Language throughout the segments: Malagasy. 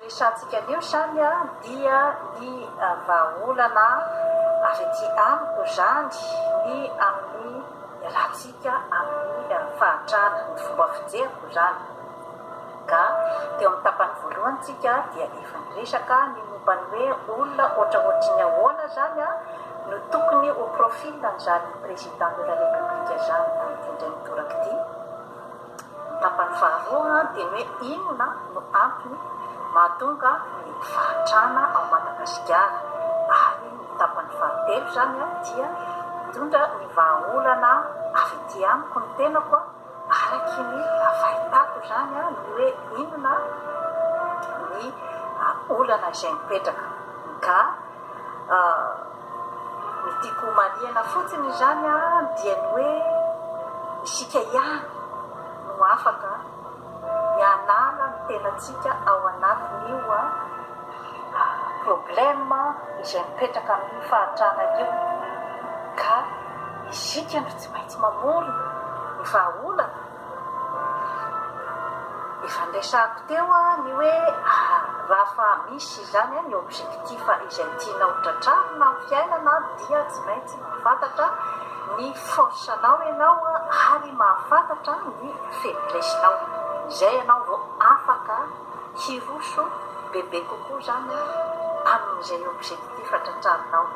Resahantsika anio izany dia ny vahaolana avy ety amiko izany ny amin'ny iarahantsika amin'ny fahantrana, ny fomba fijeriko izany. Ka teo amin'ny tapany voalohany tsika dia efa niresaka ny momba ny hoe olona ohatraohatry ny ahoana izany no tokony ho profil an'izany président de la république izany amin'ity indray mitoraka ity. Tapany faharoa dia ny hoe inona no antony mahatonga ny fahantrana ao Madagasikara ary ny tapany fahatelo izany dia mitondra ny vahaolana avy ety amiko ny tenako araky ny fahitako izany ny hoe inona ny olana izay mipetraka ka Ny tiako homarihana fotsiny izany dia ny hoe isika ihany no afaka ny hanala ny tenantsika ao anatin'io problème izay mipetraka amin'io fahantrana io ka isika no tsy maintsy mamorona ny vahaolana. Efa niresahako teo ny hoe raha fa misy izany ny objectif izay tianao tratrarina amin'ny fiainana dia tsy maintsy mahafantatra ny force nao ianao ary mahafantatra ny faiblesse nao, izay ianao vao afaka hiroso bebe kokoa izany amin'izay objectif tratrarinao.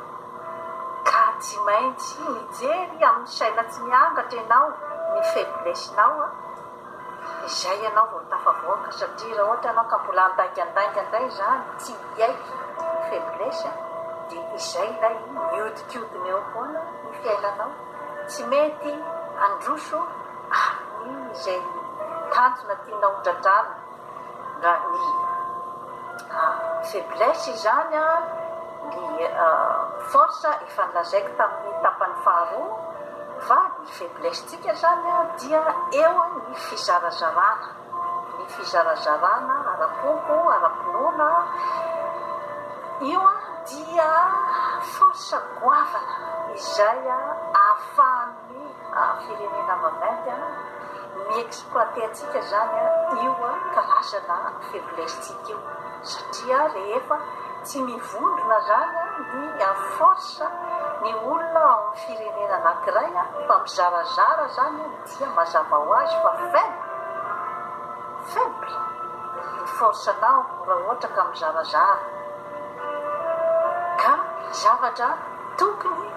Ka tsy maintsy mijery amin'ny saina tsy miangatra ianao ny faiblesse-nao an! Izay ianao vao tafavoaka satria raha ohatra ianao ka mbola handaingandainga indray izany tsy hiaiky ny faiblesse dia izay ilay mihodinkodina eo foana ny fiainanao, tsy mety handroso amin'ny izay tanjona tianao hotratrarina. Raha ny faiblesse izany ny force efa nolazaiko tamin'ny tapany faharoa fa ny faiblesse tsika izany dia eo ny fizarazarana ny fizarazarana ara-poko, ara-pinoana io dia force goavana izay ahafahan'ny. Ny firenena mamayy an, mi exploiter antsika zany an, io an karazana faiblesse tsika io, satria rehefa tsy mivondrona zany an ny à force ny olona ao am firenena anakiray an fa mizarazara zany an dia mazava ho azy fa faible, faible ny force nao raha ohatra ka mizarazara ka zavatra tokony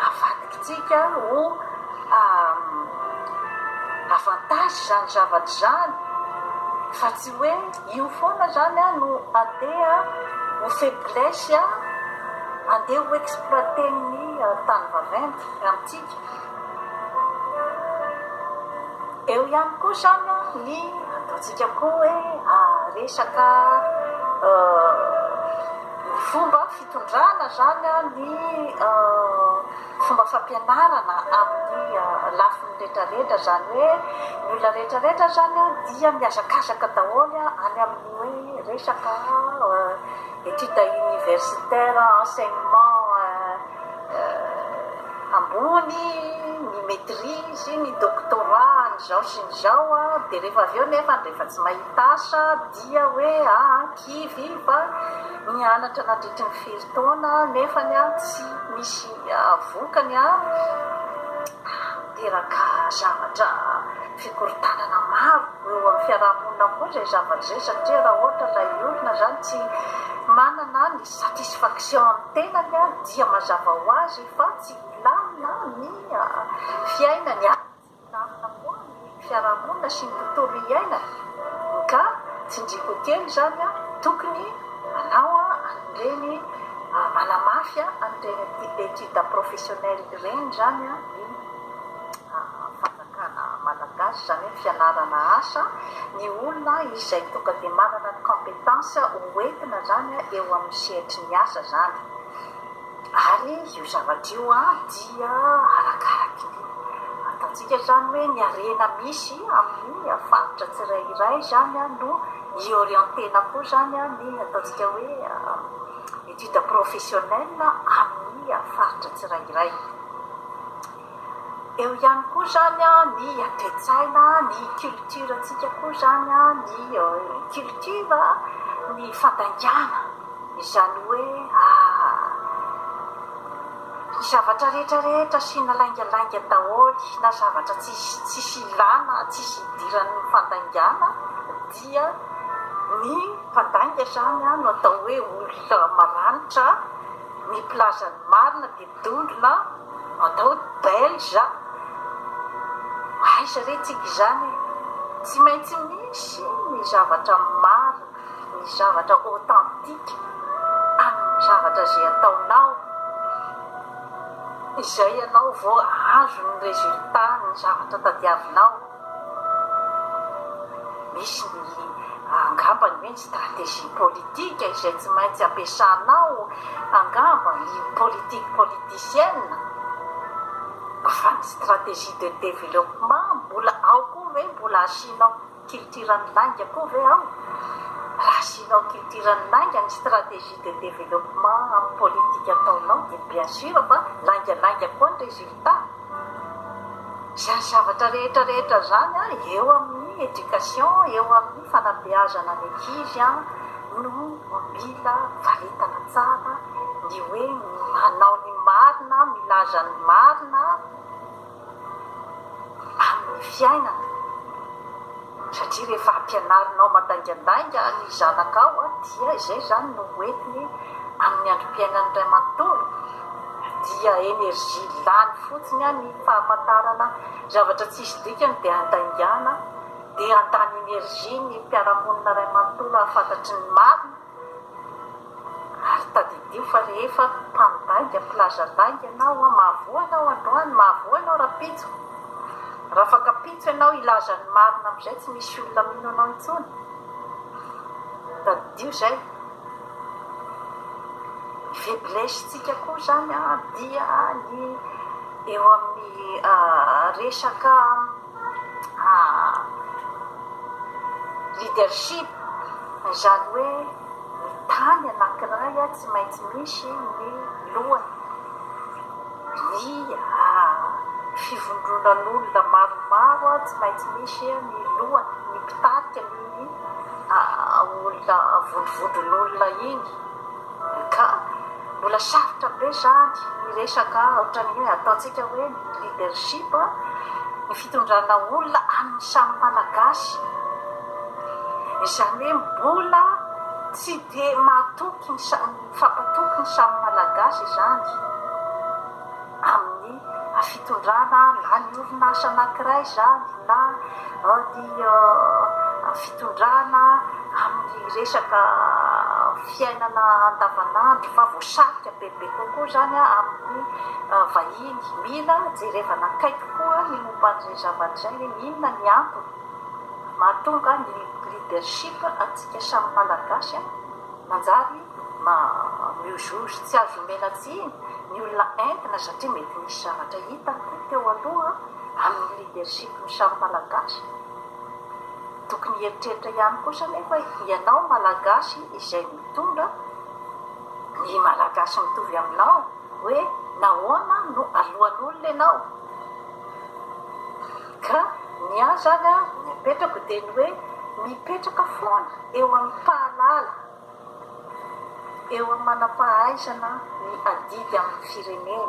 Avadikitsika ho avantage izany zavatra izany fa tsy hoe io foana izany no andeha ho faiblesse andeha ho exploiter-n'ny tany vaventy amintsika. Eo ihany koa izany ny ataontsika koa hoe resaka fomba. Tondrahana izany ny fomba fampianarana amin'ny lafiny rehetrarehetra, izany hoe ny olona rehetrarehetra izany dia mihazakazaka daholo any amin'ny hoe resaka études universitaires, enseignement ambony, ny maitrise, ny doctorat an'izao sy ny izao, dia rehefa avy eo nefa rehefa tsy mahita asa dia. Tsia hoe aa kivy fa nianatra nandritry ny firy taona nefa tsy misy vokany a miteraka zavatra fikorontanana maro eo amin'ny fiarahamonina koa izay zavatra izay satria raha ohatra ilay olona izany tsy manana ny satisfaction ny tenany dia mazava ho azy fa tsy hilamina ny fiainany. Milamina moa ny fiarahamonina sy ny tontolo iainana ka tsindriako kely izany tokony anao an'ireny manamafy an'ireny études professionnelles ireny izany ny fanjakana malagasy izany hoe fianarana asa ny olona izay tonga dia manana ny compétence ho entina izany eo amin'ny sehatry ny asa izany. Ary io zavatra io dia arakaraky ny fantantsika izany hoe ny harena misy amin'ny faritra tsirairay izany no i-orienter-na koa izany ny ataontsika hoe étude professionnelle amin'ny faritra tsirairay. Eo ihany koa izany ny toe-tsaina, ny culture antsika koa izany, ny culture, ny fandaingana izany hoe ny zavatra rehetra rehetra asiana laingalainga daholo na zavatra tsisy ilana, tsisy idiran'ny fandaingana dia ny mpandainga izany no atao hoe olona maranitra, ny mpilaza ny marina dia. Dondrona atao belge aiza re tsika izany e! Tsy maintsy misy ny zavatra marina, ny zavatra authentique amin'ny zavatra izay ataonao, izay ianao vao azo ny résultat ny zavatra tadiavinao. Misy ny angambany hoe ny stratégie politique izay tsy maintsy ampiasanao angamba ligne politique politicienne fa ny stratégie de développement mbola ao koa ve mbola asianao culture ny lainga koa ve ao? Raha asianao culture ny lainga ny stratégie de développement amin'ny politique ataonao dia bien sûr fa laingalainga koa ny résultat. Izany zavatra rehetra rehetra izany an, eo amin'ny education, eo amin'ny fanabeazana ny ankizy an, no mila varietana tsara ny hoe manao ny marina, milaza ny marina amin'ny fiainana. Satria rehefa ampianarinao mandaingandainga ny zanakao dia izay izany no hoentiny amin'ny androm-piainan'ny ray manontolo, dia énergie lany fotsiny ny fahafantarana zavatra tsisy dikany dia andaingana, dia handany énergie ny mpiara-monina ray manontolo hahafantatry ny marina. Ary tadidio fa rehefa mpandainga filaza lainga ianao an, mahavoa ianao androany, mahavoa ianao rapitso, raha fankapitso ianao hilaza ny marina amin'izay tsy misy olona mino anao intsony, tadidio izay, ny faiblesse-tsika koa izany dia ny eo amin'ny resaka Leadership, izany hoe ny tany anankiray tsy maintsy misy ny lohany, ny fivondronan'olona maromaro tsy maintsy misy ny lohany, ny mpitarika amin'iny olona, vondrovondron'olona iny. MK, Mbola sarotra be izany ny resaka ohatran'ny hoe ataontsika hoe ny leadership, ny fitondrana olona amin'ny samy Malagasy. Izany hoe mbola tsy dia mahatoky ny samy, mifampatoky ny samy Malagasy izany. amin'ny fitondrana na ny orinasa anankiray izany na ny fitondrana amin'ny resaka fiainana andavanandro fa voasarika bebe kokoa izany amin'ny vahiny. Mila jerevana akaiky koa ny momba an'izay zavatra izay hoe inona ny antony mahatonga ny leadership antsika samy Malagasy manjary. Mba miu juge tsy azo omena tsiny ny olona entina satria mety nisy zavatra hita teo aloha amin'ny leadership ny samy malagasy tokony hieritreritra ihany kosa nefa ianao malagasy izay mitondra ny malagasy mitovy aminao hoe nahoana no alohan'olona ianao ka ny ahy zany an ny apetrako dia ny hoe mipetraka foana eo amin'ny mpahalala eo amin'ny manam-pahaizana ny adidy amin'ny firenena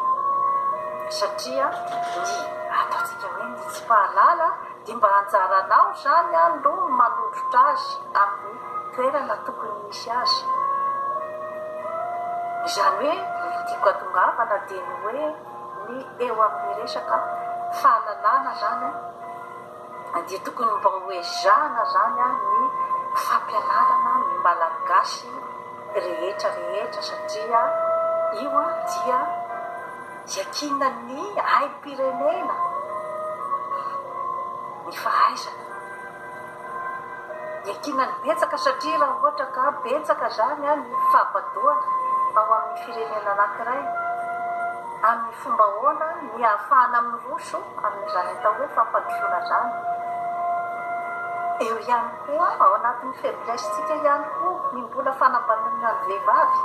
satria ny ataontsika hoe ny tsy mpahalala dia mba anjaranao izany no manondrotra azy amin'ny toerana tokony misy azy. Izany hoe ny tiako atongavana dia ny hoe ny eo amin'ny resaka fahalalana izany an! Adia tokony mba ho ezahana zany a ny fampianarana ny malagasy rehetra rehetra satria io a dia iakina ny aim pirenena ny fahaizana iakina ny betsaka satria raha ohatra ka betsaka zany a ny fahabadoana ao amin ny firenena anakiray amin ny fomba ahoana ny hahafahana miroso amin'izany atao hoe fampandrosoana izany. Eo ihany koa, ao anatin'ny faiblesse-ntsika ihany koa ny mbola fanambanana ny vehivavy.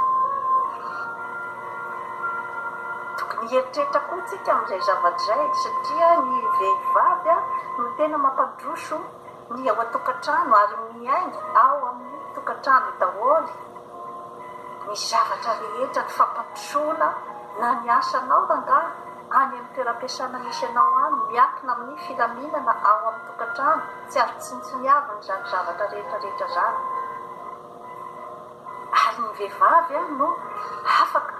Tokony hieritreritra koa isika amin'izay zavatra izay satria ny vehivavy no tena mampandroso. Ny ao an-tokantrano ary miainga ao amin'ny tokantrano daholo ny zavatra rehetra, ny fampandrosoana na ny asanao rangahy any amin'ny toeram-piasana misy anao any, miankina amin'ny filaminana ao amin'ny tokantrano, tsy azo tsinontsiniavina izany zavatra rehetra rehetra izany. Ary ny vehivavy no afaka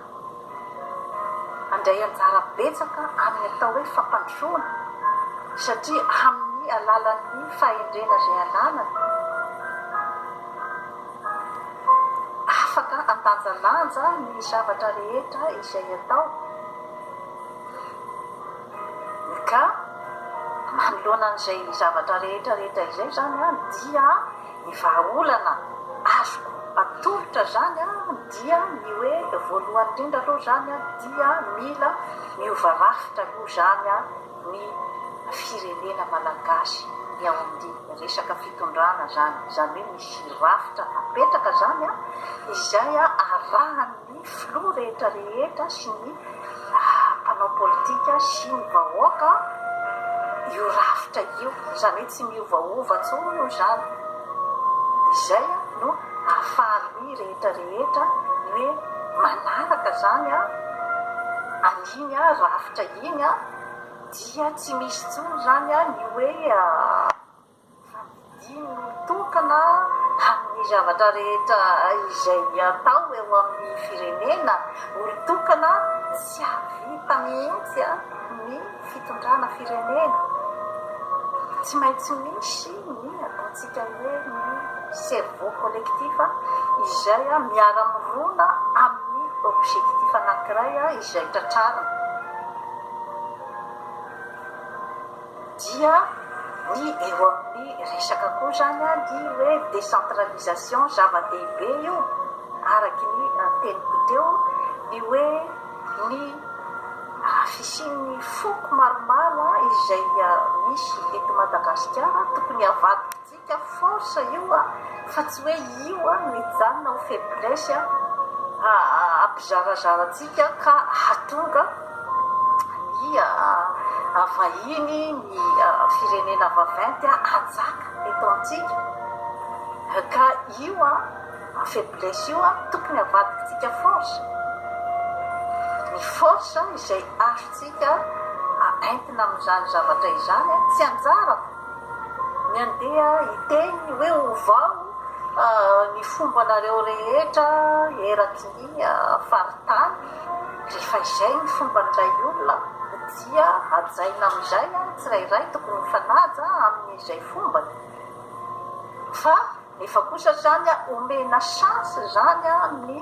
handray anjara betsaka amin'ny atao hoe fampandrosoana satria amin'ny alalan'ny fahendrena izay ananany afaka handanjalanja ny zavatra rehetra izay atao ka manoloana an'izay zavatra rehetra rehetra izay izany dia Ny vahaolana azoko atolotra zany dia ny hoe voalohany indrindra aloha zany dia mila miova rafitra aloha zany ny firenena malagasy ny ao amin'ny resaka fitondrana zany, zany hoe misy rafitra apetraka zany izay arahan'ny. ny filoha rehetra rehetra sy ny mpanao politika sy ny vahoaka io rafitra io izany hoe tsy miovaova tsony io izany izay no afalin'ny rehetra rehetra ny hoe manaraka zany a an'iny a rafitra iny a dia tsy misy tsony zany a ny hoe Safidiany ny mitokana amin'ny zavatra rehetra izay atao eo amin'ny firenena, mitokana tsy hahavita mihitsy ny fitondrana firenena. Tsy maintsy misy ny ataontsika hoe ny cerveau collectif izay miara-mirona amin'ny objectif anankiray izay tratrarina. Dia ny eo amin'ny resaka koa izany ny hoe décentralisation, zava-dehibe io araky ny teniko teo ny hoe ny fisian'ny foko maromaro izay misy eto Madagasikara tokony havadika. Ka force io a, fa tsy hoe io a no hijanona ho faiblesse hampizarazara antsika ka hahatonga ny vahiny, ny firenena vaventy hanjaka eto amintsika. Ka io a, faiblesse io a, tokony havadikintsika force. Ny force izay azontsika entina amin'izany zavatra izany, tsy anjarako. Ny andeha hiteny hoe ovao ny fombanareo rehetra eraky ny faritany, rehefa izay ny fomban'ilay olona dia hajaina amin'izay ny tsirairay, tokony mifanaja amin'izay fombany fa. Nefa kosa zany omena chance zany ny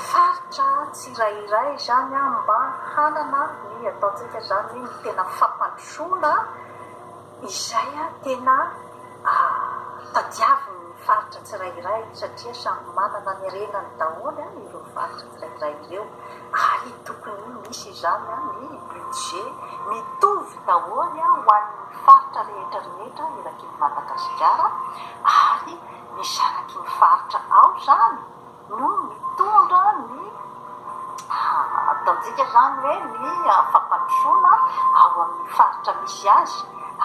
faritra tsirairay zany mba hanana ny ataontsika zany hoe ny tena fampandrosoana izay tena tadiavin'ny faritra tsirairay satria samy manana ny renany daholo ireo faritra. izay eo ary tokony misy izany ny budget mitovy daholo ho an'ny faritra rehetra rehetra eraky ny Madagasikara ary ny zanaky ny faritra ao izany no mitondra ny ataontsika izany hoe ny fampandrosoana ao amin'ny faritra misy azy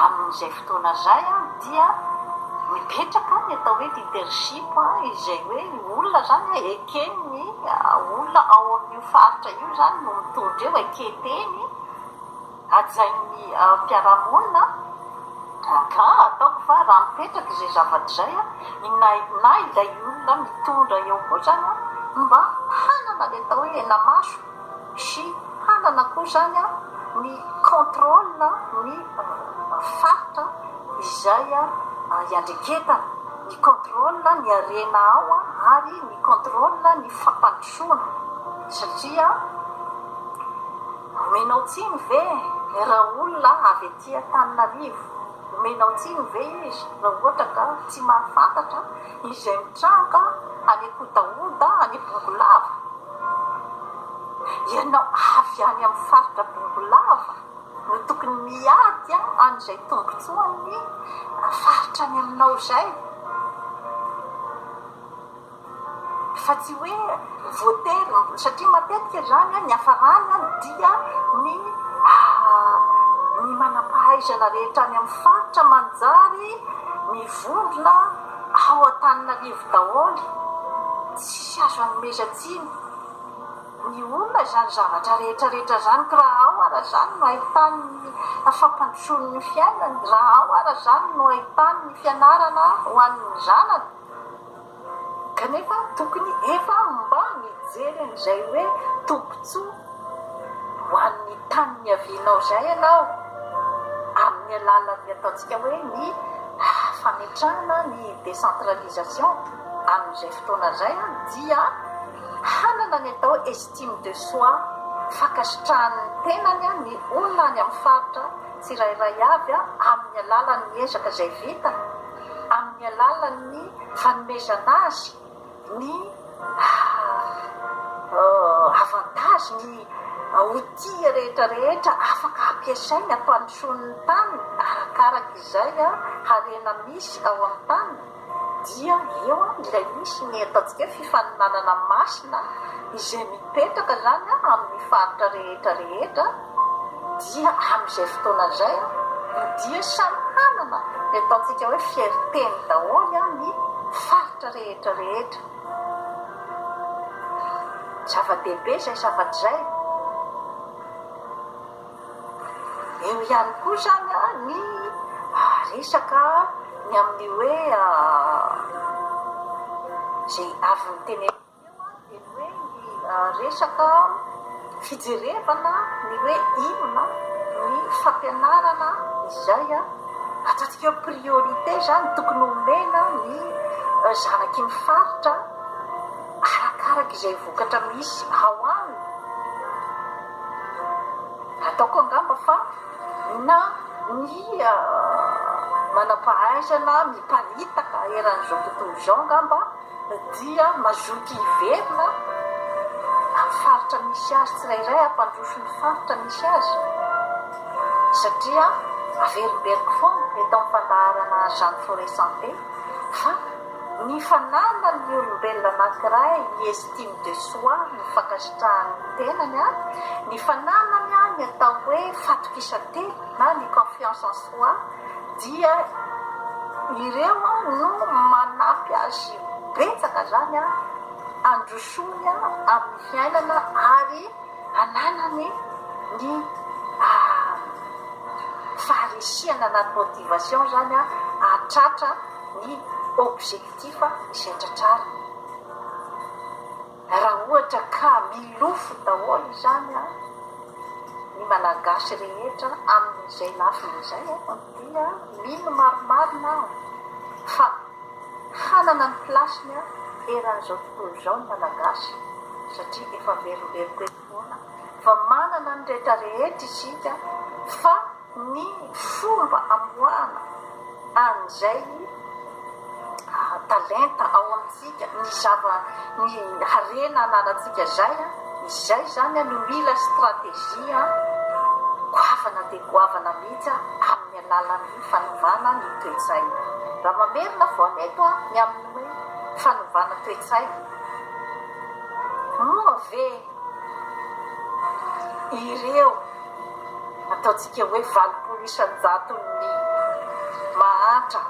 amin'izay fotoana izay dia mipetraka ny atao hoe leadership izay hoe olona izany Kely ny olona ao amin'io faritra io izany no mitondra io e, keteny, hajain'ny fiarahamonina, ka ataoko fa raha mipetraka izay zavatra izay, inona inona ilay olona mitondra eo koa izany mba hanana ilay atao hoe henamaso. Sy hanana koa izany ny contrôle ny faritra izay iandreketana, ny contrôle ny harena ao ary ny contrôle ny fampandrosoana satria omenao tsiny ve raha olona avy aty Antananarivo, omenao tsiny ve izy raha ohatra ka tsy mahafantatra. Izay mitranga any Ankotahoda, any Bongolava. Ianao avy any amin'ny faritra Bongolava no tokony miady an'izay tombontsoan'ny faritra any aminao izay fa tsy hoe. Voatery, satria matetika izany ny hafarany dia ny ny manam-pahaizana rehetra any amin'ny faritra manjary mivondrona ao Antananarivo daholo, tsisy azo anomezan-tsiny ny olona izany zavatra rehetrarehetra izany, ka raha ao ara izany no ahitany ny fampandrosoany ny fiainany, raha ao ara izany no ahitany ny fianarana ho an'ny zanany. Kanefa tokony efa mba mijery an'izay hoe tombontsoa ho an'ny tany niavianao izay ianao amin'ny alalan'ny ataontsika hoe ny fametrahana ny décentralisation amin'izay fotoana izay dia hanana ny atao estime de soi, fankasitrahan'ny tenany ny olona any amin'ny faritra tsirairay avy amin'ny alalan'ny ezaka izay vita amin'ny alalan'ny fanomezana azy ny avantages, ny outils rehetra rehetra afaka hampiasainy hampandrosoany ny taniny arakaraka izay harena misy ao amin'ny taniny, dia eo ilay misy ny ataontsika hoe fifaninanana masina izay mipetraka izany amin'ny faritra rehetra rehetra. dia amin'izay fotoana izay no dia samy hanana ny ataontsika hoe fierté-ny daholo ny faritra rehetra rehetra. Zava-dehibe izay zavatra izay. Eo ihany koa izany ny resaka ny amin'ny hoe izay avy notenenina. resaka fijerevana ny hoe inona ny fampianarana izay atantsika hoe priorité izany tokony homena ny zanaky ny faritra arakaraka izay vokatra misy ao aminy. Ataoko angamba fa na ny manam-pahaizana miparitaka eran'izao tontolo izao angamba. dia mazoto hiverina amin'ny faritra misy azy tsirairay hampandroso ny faritra misy azy satria averimberiko foana eto amin'ny fandaharana Jeanne Forest Santé fa ny fananan'ny olombelona anankiray ny estime de soi, ny fankasitrahany ny tenany an, ny fananany an ny atao hoe fatokisantena na ny confiance en soi, dia ireo no manampy azy betsaka zany handrosoany amin'ny fiainana ary hananany ny faharesihana na ny motivation zany hahatratra ny objectif izay tratrariny. Raha ohatra ka milofo daholo izany an, ny Malagasy rehetra amin'izay lafiny izay an, dia mino marimarina aho fa hanana ny place-ny an, eran'izao tontolo izao ny Malagasy satria efa verimberiko eto. Fotoana fa manana ny rehetra rehetra isika fa ny fomba amoahana an'izay talenta ao amintsika, ny zava, ny harena ananantsika izay, izay izany no mila stratégie goavana dia goavana mihitsy amin'ny alalan'ny fanovana ny toe-tsaina. Raha mamerina vao any eto ny amin'ny hoe fanovana toe-tsaina. Moa ve ireo ataontsika hoe valopolo isan-jaton'ny mahantra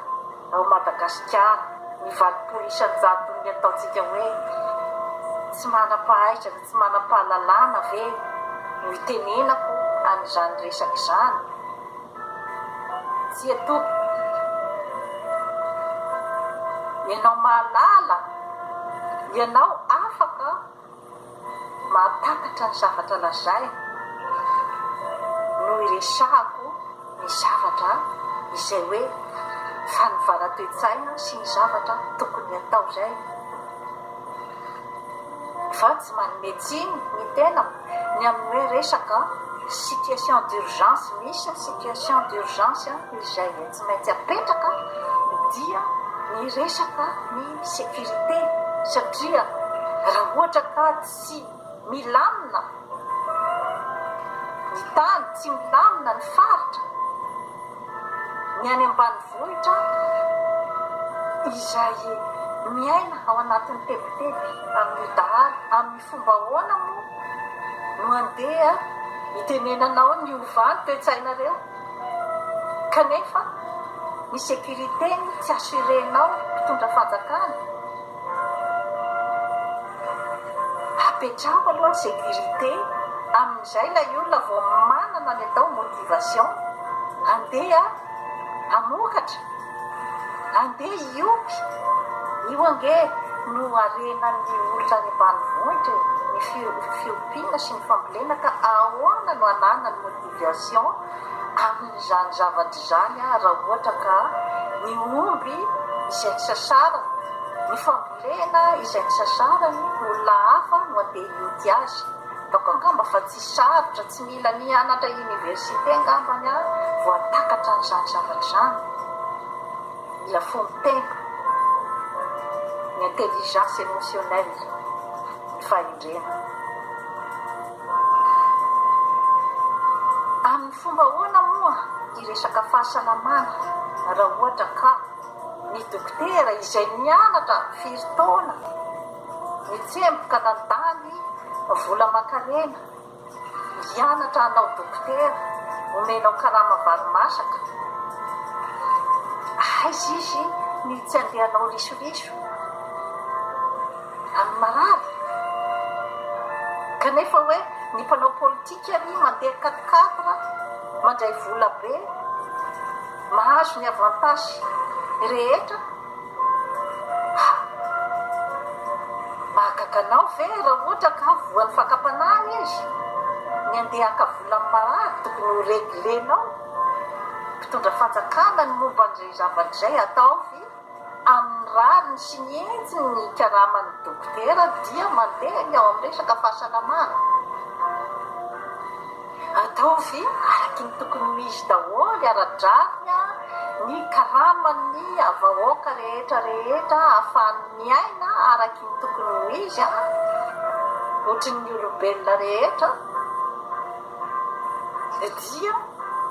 ao Madagasikara, ny valopolo isan-jaton'ny ataontsika hoe tsy manam-pahaizana, tsy manam-pahalalana ve no itenenako an'izany resaka izany? Tsia tompoko, ianao mahalala, ianao afaka mahatakatra ny zavatra lazaina no iresahako ny zavatra izay hoe fanovana toe-tsaina sy ny zavatra tokony hatao izay, fa tsy manome tsiny ny tenako. Ny amin'ny hoe resaka situation d'urgence misy ny situation d'urgence izay tsy maintsy apetraka dia ny resaka ny sécurité satria raha ohatra ka tsy milamina ny tany, tsy milamina ny faritra, ny any ambanivohitra izay miaina ao anatin'ny tebiteby amin'io dahalo, amin'io. Fomba ahoana moa no handeha hitenenanao ny hiovà ny toe-tsainareo kanefa ny sécurité ny tsy assurer-nao mpitondra fanjakana? Apetraho aloha ny sécurité amin'izay ilay olona vao manana ny atao motivation handeha hamokatra. Andeha hiompy? Io ange no harenan'ny olona any ambanivohitra e! Ny fiompiana sy ny fambolena ka ahoana no hananany motivation amin'izany zavatra izany aho raha ohatra ka ny omby izay nisasarany, ny fambolena izay nisasarany olona hafa no andeha hioty azy? Hitako angamba fa tsy sarotra, tsy mila nianatra université angamba ny ahy vao hahatakatra an'izany zavatra izany. Mila fono tena, ny intelligence émotionnelle, ny fahendrena. Amin'ny fomba ahoana moa ny resaka fahasalamana raha ohatra ka ny dokotera izay nianatra firy taona, Nitsemboka nandany vola aman-kanena hianatra hanao dokotera, omenao karama vary masaka. Aiza izy ny tsy andeha hanao risoriso amin'ny marary? Kanefa hoe ny mpanao politika anie mandeha quatre quatre, mandray vola be, mahazo ny avantages rehetra. Mahagaga anao ve raha ohatra ka voan'ny fakam-panahy izy? Ny handeha haka vola amin'ny marary tokony ho reglenao? Mpitondra fanjakana ny momba an'izay zavatra izay? Ataovy amin'ny rariny sy ny hetsiny ny karaman'ny dokotera dia mandeha ny ao amin'ny resaka fahasalamana. Ataovy araky ny tokony ho izy daholo ara-drariny ny karaman'ny vahoaka rehetra rehetra ahafahany miaina araky ny tokony ho izy ohatry ny olombelona rehetra dia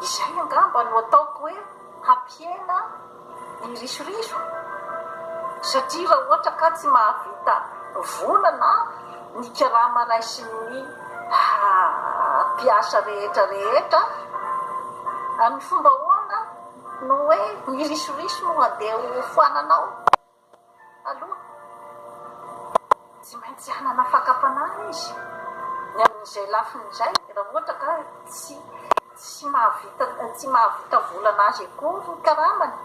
izay angamba no ataoko hoe hampihena ny risoriso satria raha ohatra ka tsy mahavita vola na ny karama raisin'ny mpiasa rehetra rehetra, amin'ny fomba ahoana no hoe ny risoriso no handeha hofoananao? Aloha, tsy maintsy hanana fakam-panahy izy ny amin'izay lafiny izay, raha ohatra ka tsy tsy mahavita tsy mahavita volana azy akory ny karamany.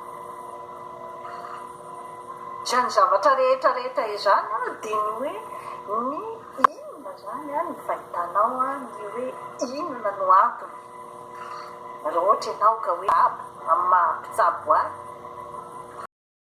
Izany zavatra rehetra rehetra izany dia ny hoe ny inona izany ny fahitanao ny hoe inona no antony raha ohatra ianao ka hoe amin'ny maha mpitsabo ahy.